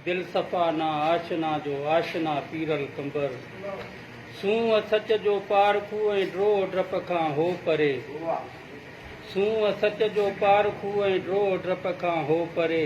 دل صفا نا آشنا جو آشنا پيرل قمبر سونهن سچ جو پارکو ۽ ڊوهه ڊپ کان هو پري سونهن سچ جو پارکو ۽ ڊوهه ڊپ کان هو پري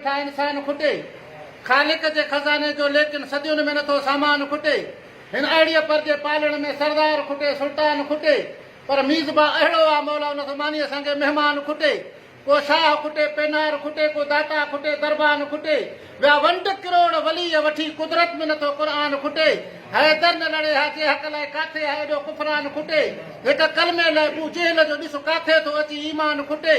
ڪا انسان کٽي خالق جي خزاني جو ليڪن صديون ۾ نٿو سامان کٽي هن اهڙيء پر جي پالڻ ۾ سردار کٽي سلطان کٽي پر ميزبان اهڙو آ مولا ان زماني سانگي مهمان کٽي ڪو شاهه کٽي پينار کٽي ڪو داتا کٽي دربان کٽي ويا ونڊ ڪروڙ وليء وٺي قدرت ۾ نٿو قرآن کٽي حيدر نه لڙي ها جي حق لاء ڪاٿي آ ايڏو ڪفران کٽي هڪ ڪلمي لاء بو جهل جو ڏس ڪاٿي ٿو اچي ايمان کٽي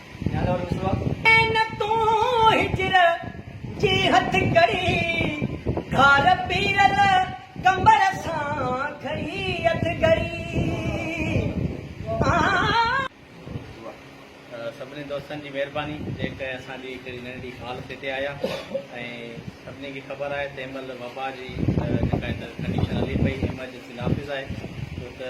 نه تون هجر جي هٿڪڙي گهار پيرل ڪنبر سان گهڙي اٿ گهڙي آ. سڀني دوستن جي مهرباني جيڪي اسان جي هڪڙي ننڍڙي ڪال تي هتي آيا ۽ سڀني کي خبر آهي تنهن مهل وبا جي جيڪا هتي ڪنڊيشن هلي پئي ايمرجنسي نافذ آهي ڇو ته